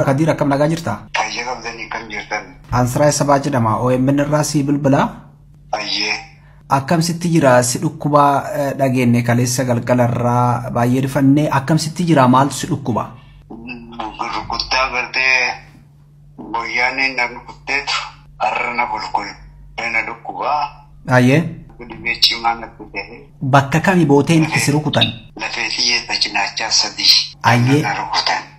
Kadiir akkam nagaa jirta? Fayyaa qabdanii akkam jirtan? Ansiraa Sabaa jedhama. OMN irraa sii bilbila. Fayyee. Akkam sitti jira? Si dhukkuba eh, dhageenne kaleessa galgala irraa baay'ee rifannee akkam sitti jira? Maaltu si dhukkuba? Rukuttaa gartee boyyaaneen na rukutteetu har'a na bulkulee na dhukkubaa. Baay'ee. Dhibee cimaa na fidee. Bakka kami booteen itti si rukutan? Lafee fi cinaacha sadii. Ayyee. Na rukutan.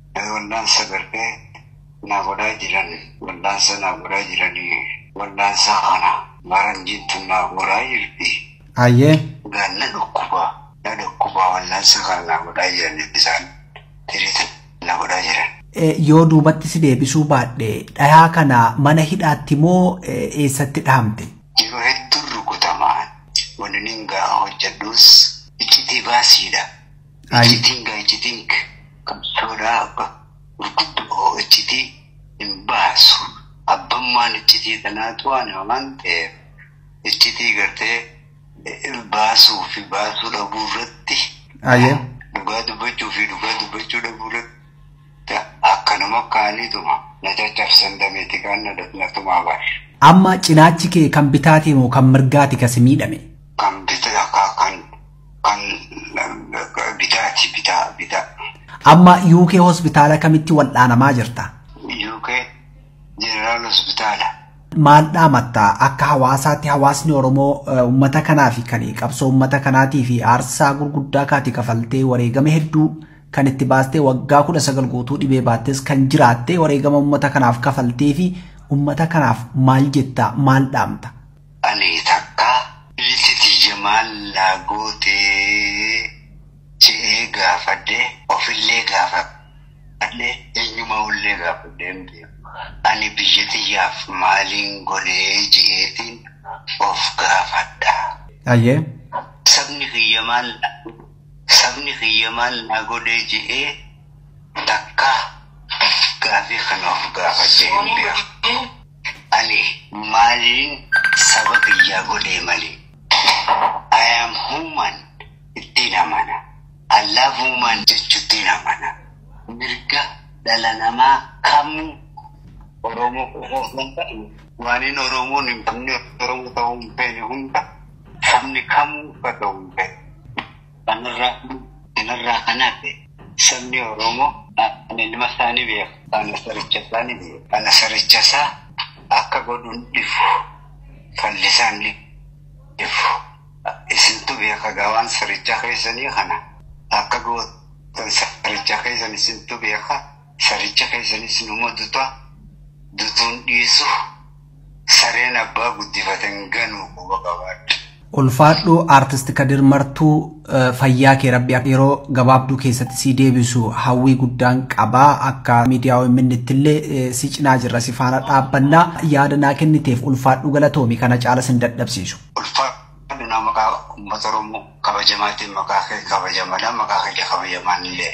Wallaansa gartee naa godhaa jiran wallaansa naa godhaa jiranii wallaansa kana faranjiin tun naa godhaa jirti. Hayyee. Gaan na dhukkuba na dhukkuba wallaansa kana naa godhaa jiran isaan tiriitan na godhaa jiran. Yoo duubatti si deebisuu baadhe dhayaa kana mana hidhaatti moo eessatti dhahamte? Yeroo hedduun rukutamaa wanni nin ga'a hojjedhuus iccitii baasiidha. Iccitiin gaa iccitiin qabsoodhaa abba gurguddoo iccitii hin baasu. Abbammaan iccitii tanaa tu'aana waan ta'eef iccitii gartee baasuu fi baasuu dhabuu irratti dhugaa dubbachuu fi dhugaa dubbachuu dhabuu irratti akkanuma kaaniituma na caccabsan dameeti kaan na tumaa baashe. Amma cinaachi kee kan bitaatii moo kan mirgaati kasi miidhame? An bitaati bitaa bitaa. Amma UK hospitaala kamitti wal'aanamaa jirta? UK Jeneraal Hospitaala. Maal dhaamatta akka hawaasaatti hawaasni Oromoo eh, uummata kanaa fi kan qabsoo uummata kanaatii fi aarsaa gurguddaa kaati kafaltee wareegama hedduu kan itti baastee waggaa kudha sagal guutuu dhibee baattes kan jiraattee wareegama uummata kanaaf kafaltee fi uummata kanaaf maal jetta maal dhaamta? Anii takkaa bilti tiyya maal naa gootee je'ee gaafadhe ofillee gaafadhe enyumaullee gaafadhee hin beeku ani biyya tiyyaaf maaliin godhee je'eetiin of gaafadha. Hayyee. Sabni kiyya maal naa godhee sabni kiyya maal naa godhee je'ee takkaa gaafii kana of gaafadhee hin beeku. Ani maalin saba biyyaa godhee malee. I am human ittiin amana. I love woman jechuttiin amana. Mirga dhala namaa kamuu Oromoo qofa osoo hin taane waanin Oromoon hin qabne Oromoo ta'uu hin feene hunda sabni kamuu akka ta'u hin feene. Kan irraa kan irraa kan hafe sabni Oromoo kan ilma isaa ni beeka. Kan saricha isaa ni beeka. Kan saricha isaa akka godhuun dhifu fallisaan ni dhifu. Isintu beeka gawaan saricha keessanii kana akka gootan saricha keessan isintu beeka. saricha keessanis numa duta dutuun dhiisu sareen abbaa guddifate hin ganu quba qabaadhu. Ulfaadhu Artist Kadir Martuu eh, fayyaa kee rabbi akka yeroo gabaabduu keessatti si deebisu hawwii guddaan qabaa akka miidiyaa OMN illee eh, si cinaa jirra si faana dhaabbannaa yaada naa kenniteef ulfaadhu galatoomi kana caala sin dadhabsiisu. Ulfaadhu na maqaa uummata Oromoo kabajamaatiin maqaa kee kabajamadha maqaa kee kabajamaan illee.